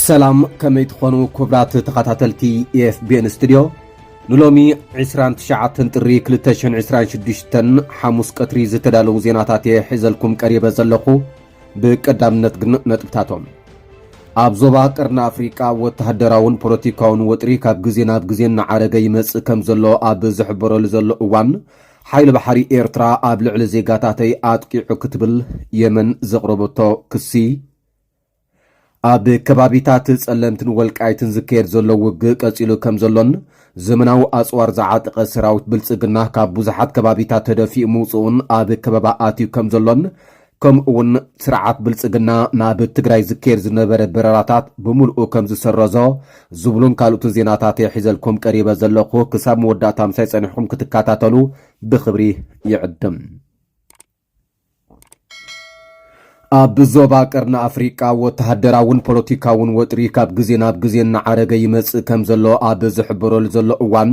ሰላም ከመይ ትኾኑ ክብራት ተኸታተልቲ ኤፍቢኤን ስቱድዮ ንሎሚ 29 ጥሪ 226 ሓሙስ ቀትሪ ዝተዳለዉ ዜናታት እየ ሒዘልኩም ቀሪበ ዘለኹ ብቀዳምነት ግን ነጥብታቶም ኣብ ዞባ ቀርኒ ኣፍሪቃ ወተሃደራውን ፖለቲካውን ወጥሪ ካብ ግዜ ናብ ግዜ እናዓረገ ይመጽእ ከም ዘሎ ኣብ ዝሕበረሉ ዘሎ እዋን ሓይሊ ባሕሪ ኤርትራ ኣብ ልዕሊ ዜጋታተይ ኣጥቂዑ ክትብል የመን ዘቕረበቶ ክሲ ኣብ ከባቢታት ጸለምትን ወልቃይትን ዝካየድ ዘሎ ውግእ ቀጺሉ ከም ዘሎን ዘመናዊ ኣጽዋር ዝዓጠቐ ሰራዊት ብልጽግና ካብ ብዙሓት ከባቢታት ተደፊኡ ምውጽኡን ኣብ ከበባ ኣትዩ ከም ዘሎን ከምኡ'ውን ስርዓት ብልጽግና ናብ ትግራይ ዝካየድ ዝነበረ በረራታት ብምልኡ ከም ዝሰረዞ ዝብሉን ካልኦትን ዜናታት እየ ሒዘልኩም ቀሪበ ዘለኹ። ክሳብ መወዳእታ ምሳይ ጸኒሕኩም ክትከታተሉ ብኽብሪ ይዕድም። ኣብ ዞባ ቀርኒ ኣፍሪቃ ወተሃደራውን ፖለቲካውን ወጥሪ ካብ ግዜ ናብ ግዜ እናዓረገ ይመጽእ ከም ዘሎ ኣብ ዝሕበረሉ ዘሎ እዋን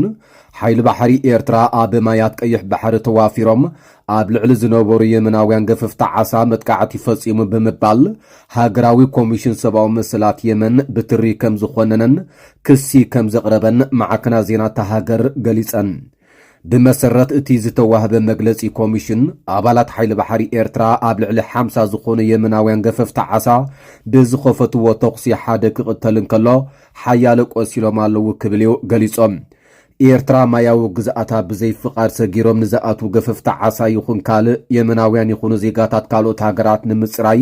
ሓይሊ ባሕሪ ኤርትራ ኣብ ማያት ቀይሕ ባሕሪ ተዋፊሮም ኣብ ልዕሊ ዝነበሩ የመናውያን ገፈፍቲ ዓሳ መጥቃዕቲ ፈጺሙ ብምባል ሃገራዊ ኮሚሽን ሰብኣዊ መሰላት የመን ብትሪ ከም ዝኾነነን ክሲ ከም ዘቕረበን ማዕከናት ዜና እታ ሃገር ገሊጸን። ብመሰረት እቲ ዝተዋህበ መግለጺ ኮሚሽን፣ ኣባላት ሓይሊ ባሕሪ ኤርትራ ኣብ ልዕሊ ሓምሳ ዝኾኑ የመናውያን ገፈፍቲ ዓሳ ብዝኸፈትዎ ተኹሲ ሓደ ክቕተል እንከሎ ሓያለ ቆሲሎም ኣለዉ ክብል እዩ ገሊጾም። ኤርትራ ማያዊ ግዝኣታ ብዘይ ፍቓድ ሰጊሮም ንዝኣትዉ ገፈፍቲ ዓሳ ይኹን ካልእ የመናውያን ይኹኑ ዜጋታት ካልኦት ሃገራት ንምጽራይ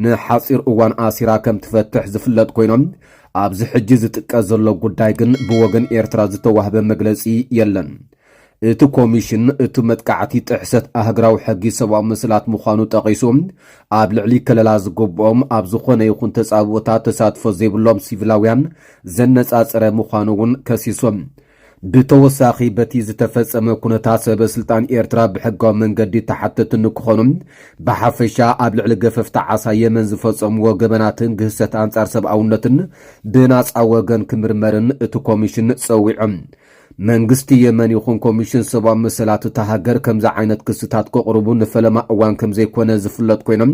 ንሓጺር እዋን ኣሲራ ከምትፈትሕ ዝፍለጥ ኮይኖም ኣብዚ ሕጂ ዝጥቀስ ዘሎ ጉዳይ ግን ብወገን ኤርትራ ዝተዋህበ መግለጺ የለን። እቲ ኮሚሽን እቲ መጥቃዕቲ ጥሕሰት ኣህግራዊ ሕጊ ሰብኣዊ መሰላት ምዃኑ ጠቒሱ ኣብ ልዕሊ ከለላ ዝግብኦም ኣብ ዝኾነ ይኹን ተጻብኦታት ተሳትፎ ዘይብሎም ሲቪላውያን ዘነጻጸረ ምዃኑ እውን ከሲሶም። ብተወሳኺ በቲ ዝተፈጸመ ኩነታት ሰበ ስልጣን ኤርትራ ብሕጋዊ መንገዲ ተሓተቲ ንክኾኑ፣ ብሓፈሻ ኣብ ልዕሊ ገፈፍቲ ዓሳ የመን ዝፈጸምዎ ገበናትን ግህሰት ኣንጻር ሰብኣውነትን ብናጻ ወገን ክምርመርን እቲ ኮሚሽን ጸዊዖም። መንግስቲ የመን ይኹን ኮሚሽን ሰብኣዊ መሰላት እታ ሃገር ከምዚ ዓይነት ክስታት ከቕርቡ ንፈለማ እዋን ከምዘይኮነ ዝፍለጥ ኮይኖም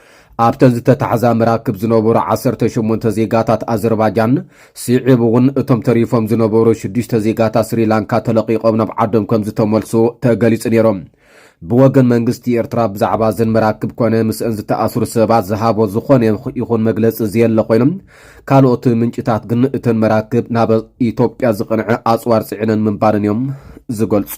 ኣብተን ዝተታሕዛ መራክብ ዝነበሩ ዓሰርተ ሸሞንተ ዜጋታት ኣዘርባጃን ስዒቡ እውን እቶም ተሪፎም ዝነበሩ ሽዱሽተ ዜጋታት ስሪላንካ ተለቒቖም ናብ ዓዶም ከም ዝተመልሱ ተገሊጹ ነይሩ። ብወገን መንግስቲ ኤርትራ ብዛዕባ እዘን መራክብ ኮነ ምስአን ዝተኣስሩ ሰባት ዝሃቦ ዝኾነ ይኹን መግለጺ ዘየለ ኮይኑ ካልኦት ምንጭታት ግን እተን መራክብ ናብ ኢትዮጵያ ዝቐንዐ ኣጽዋር ጽዒነን ምንባረን እዮም ዝገልጹ።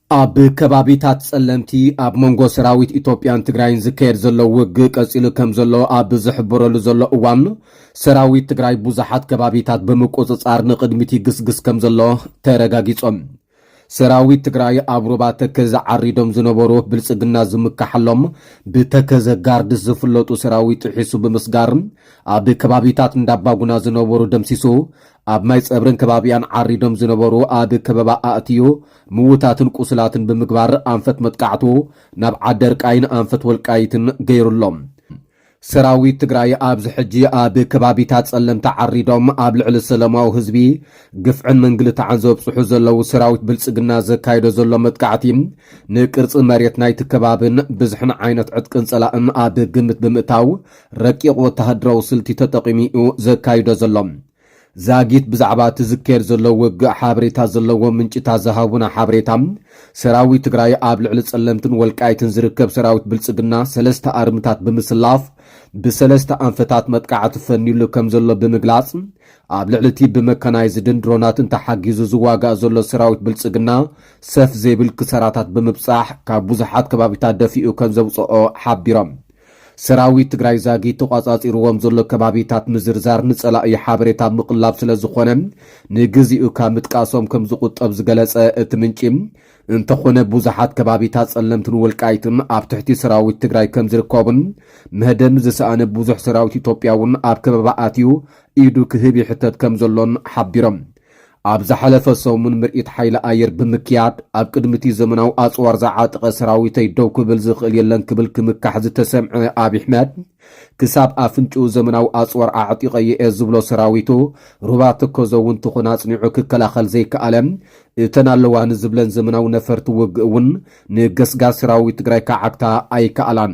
ኣብ ከባቢታት ጸለምቲ ኣብ መንጎ ሰራዊት ኢትዮጵያን ትግራይን ዝካየድ ዘሎ ውግእ ቀጺሉ ከም ዘሎ ኣብ ዝሕበረሉ ዘሎ እዋን ሰራዊት ትግራይ ብዙሓት ከባቢታት ብምቁጽጻር ንቕድሚት ይግስግስ ከም ዘሎ ተረጋጊጾም። ሰራዊት ትግራይ ኣብ ሩባ ተከዘ ዓሪዶም ዝነበሩ ብልፅግና ዝምካሓሎም ብተከዘ ጋርድስ ዝፍለጡ ሰራዊት ጥሒሱ ብምስጋር ኣብ ከባቢታት እንዳባጉና ዝነበሩ ደምሲሱ ኣብ ማይ ፀብርን ከባቢያን ዓሪዶም ዝነበሩ ኣብ ከበባ ኣእትዩ ምውታትን ቁስላትን ብምግባር ኣንፈት መጥቃዕቱ ናብ ዓደርቃይን ኣንፈት ወልቃይትን ገይሩ ኣሎ። ሰራዊት ትግራይ ኣብዚ ሕጂ ኣብ ከባቢታት ጸለምቲ ዓሪዶም ኣብ ልዕሊ ሰለማዊ ህዝቢ ግፍዕን ምንግልታዕን ዘብጽሑ ዘለዉ ሰራዊት ብልጽግና ዘካይዶ ዘሎ መጥቃዕቲ ንቅርጺ መሬት ናይቲ ከባብን ብዝሕን ዓይነት ዕጥቅን ጸላእን ኣብ ግምት ብምእታው ረቂቕ ወተሃደራዊ ስልቲ ተጠቒሙ እዩ ዘካይዶ ዘሎ። ዛጊት ብዛዕባ እቲ ዝካየድ ዘሎ ውግእ ሓበሬታ ዘለዎም ምንጭታት ዝሃቡና ሓበሬታ፣ ሰራዊት ትግራይ ኣብ ልዕሊ ፀለምትን ወልቃይትን ዝርከብ ሰራዊት ብልፅግና ሰለስተ ኣርምታት ብምስላፍ ብሰለስተ ኣንፈታት መጥቃዕቲ ፈንዩሉ ከምዘሎ ብምግላፅ፣ ኣብ ልዕሊ እቲ ብመካናይዝድን ድሮናትን ተሓጊዙ ዝዋጋእ ዘሎ ሰራዊት ብልፅግና ሰፍ ዘይብል ክሳራታት ብምብፃሕ ካብ ብዙሓት ከባቢታት ደፊኡ ከምዘውፀኦ ሓቢሮም። ሰራዊት ትግራይ ዛጊት ተቋጻጺርዎም ዘሎ ከባቢታት ምዝርዛር ንጸላኢ ሓበሬታ ምቕላብ ስለ ዝኾነ ንግዚኡ ካብ ምጥቃሶም ከም ዝቑጠብ ዝገለጸ እቲ ምንጪ፣ እንተኾነ ብዙሓት ከባቢታት ጸለምትን ወልቃይትን ኣብ ትሕቲ ሰራዊት ትግራይ ከም ዝርከቡን መህደሚ ዝሰኣነ ብዙሕ ሰራዊት ኢትዮጵያ'ውን ኣብ ከበባ ኣትዩ ኢዱ ክህብ ይሕተት ከም ዘሎን ሓቢሮም። ኣብ ዝሓለፈ ሰሙን ምርኢት ሓይሊ ኣየር ብምክያድ፣ ኣብ ቅድሚ'ቲ ዘመናዊ ኣጽዋር ዝዓጠቐ ሰራዊተይ ደው ክብል ዝኽእል የለን ክብል ክምካሕ ዝተሰምዐ ኣብይ ኣሕመድ፣ ክሳብ ኣፍንጭኡ ዘመናዊ ኣጽዋር ኣዕጢቐዮ'የ ዝብሎ ሰራዊቱ፣ ሩባ ተከዘ'ውን ተኾነ ኣጽኒዑ ክከላኸል ዘይከኣለ፣ እተን ኣለዋ ንዝብለን ዘመናዊ ነፈርቲ ውግእ'ውን ንገስጋስ ሰራዊት ትግራይ ክዓግታ ኣይከኣላን።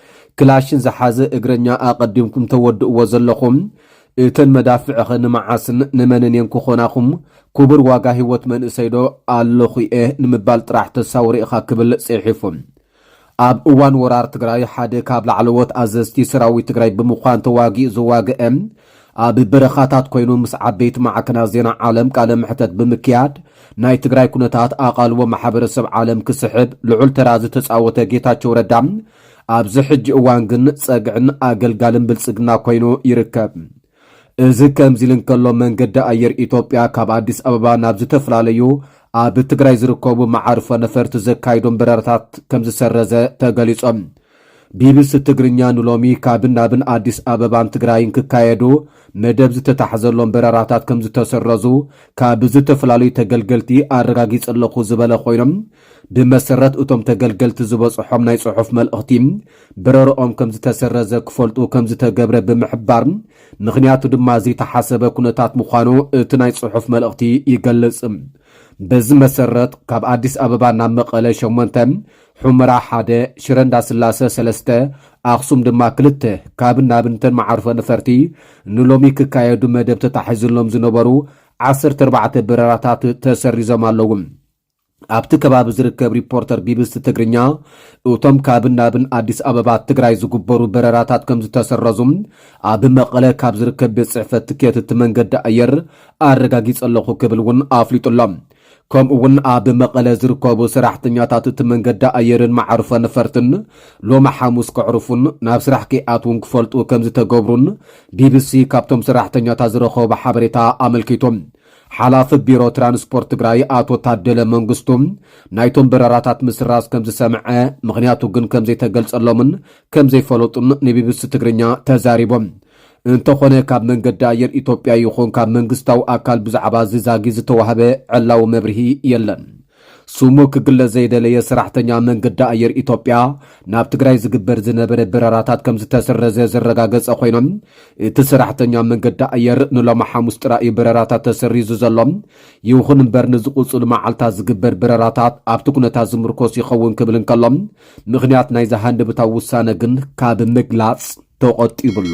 ክላሽን ዝሓዘ እግረኛ ኣቐዲምኩም ተወድእዎ ዘለኹም፣ እተን መዳፍዕኸ ንመዓስን ንመንን እየን ክኾናኹም? ኩቡር ዋጋ ሂወት መንእሰይዶ ኣለኹ'የ ንምባል ጥራሕ ተሳውሪ ኢኻ ክብል ጺሒፉ። ኣብ እዋን ወራር ትግራይ ሓደ ካብ ላዕለዎት ኣዘዝቲ ሰራዊት ትግራይ ብምዃን ተዋጊኡ ዘዋገኤ ኣብ በረኻታት ኮይኑ ምስ ዓበይቲ ማዕከናት ዜና ዓለም ቃለ መሕተት ብምክያድ ናይ ትግራይ ኩነታት ኣቓልቦ ማሕበረሰብ ዓለም ክስሕብ ልዑል ተራ ዝተጻወተ ጌታቸው ረዳ ኣብዚ ሕጂ እዋን ግን ጸግዕን ኣገልጋልን ብልጽግና ኮይኑ ይርከብ። እዚ ከምዚ ኢሉ እንከሎ መንገዲ ኣየር ኢትዮጵያ ካብ ኣዲስ ኣበባ ናብ ዝተፈላለዩ ኣብ ትግራይ ዝርከቡ መዓርፎ ነፈርቲ ዘካይዶም በረራታት ከምዝሰረዘ ተገሊጾም። ቢቢሲ ትግርኛ ንሎሚ ካብን ናብን ኣዲስ ኣበባን ትግራይን ክካየዱ መደብ ዝተታሕዘሎም በረራታት ከምዝተሰረዙ ካብ ዝተፈላለዩ ተገልገልቲ ኣረጋጊፀ ኣለኹ ዝበለ ኮይኑ ብመሰረት እቶም ተገልገልቲ ዝበፅሖም ናይ ፅሑፍ መልእኽቲ በረርኦም ከምዝተሰረዘ ክፈልጡ ከምዝተገብረ ብምሕባር ምኽንያቱ ድማ ዘይተሓሰበ ኩነታት ምዃኑ እቲ ናይ ፅሑፍ መልእኽቲ ይገልፅ። በዚ መሰረት ካብ ኣዲስ ኣበባ ናብ መቐለ ሸሞንተ ሑመራ ሓደ፣ ሽረ እንዳስላሰ ሰለስተ፣ ኣኽሱም ድማ ክልተ ካብን ናብን እተን መዓርፎ ነፈርቲ ንሎሚ ክካየዱ መደብ ተታሒዝሎም ዝነበሩ ዓሰርተ ኣርባዕተ በረራታት ተሰሪዞም ኣለዉ። ኣብቲ ከባቢ ዝርከብ ሪፖርተር ቢቢሲ ትግርኛ እቶም ካብን ናብን ኣዲስ ኣበባ ትግራይ ዝግበሩ በረራታት ከም ዝተሰረዙ ኣብ መቐለ ካብ ዝርከብ ቤት ጽሕፈት ትኬት እቲ መንገዲ ኣየር ኣረጋጊጸ ኣለኹ ክብል እውን ኣፍሊጡ ኣሎ። ከምኡ'ውን ኣብ መቐለ ዝርከቡ ሰራሕተኛታት እቲ መንገዲ ኣየርን መዓርፎ ነፈርትን ሎሚ ሓሙስ ከዕርፉን ናብ ስራሕ ከይኣትዉን ክፈልጡ ከምዝተገብሩን ቢቢሲ ካብቶም ሰራሕተኛታት ዝረኸቦ ሓበሬታ ኣመልኪቱ። ሓላፊ ቢሮ ትራንስፖርት ትግራይ ኣቶ ታደለ መንግስቱ ናይቶም በረራታት ምስራዝ ከምዝሰምዐ ምኽንያቱ ግን ከምዘይተገልጸሎምን ከምዘይፈለጡን ንቢቢሲ ትግርኛ ተዛሪቦም። እንተኾነ ካብ መንገዲ ኣየር ኢትዮጵያ ይኹን ካብ መንግስታዊ ኣካል ብዛዕባ እዚ ዛጊት ዝተዋህበ ዕላዊ መብርሂ የለን። ስሙ ክግለጽ ዘይደለየ ሰራሕተኛ መንገዲ ኣየር ኢትዮጵያ ናብ ትግራይ ዝግበር ዝነበረ በረራታት ከምዝተሰረዘ ዘረጋገጸ ኮይኑ እቲ ሰራሕተኛ መንገዲ ኣየር ንሎሚ ሓሙስ ጥራይ እዩ በረራታት ተሰሪዙ ዘሎ። ይኹን እምበር ንዝቕጽሉ መዓልታት ዝግበር በረራታት ኣብቲ ኩነታት ዝምርኮስ ይኸውን ክብል እንከሎ ምኽንያት ናይዚ ሃንደበታዊ ውሳነ ግን ካብ ምግላጽ ተቖጢቡ'ሎ።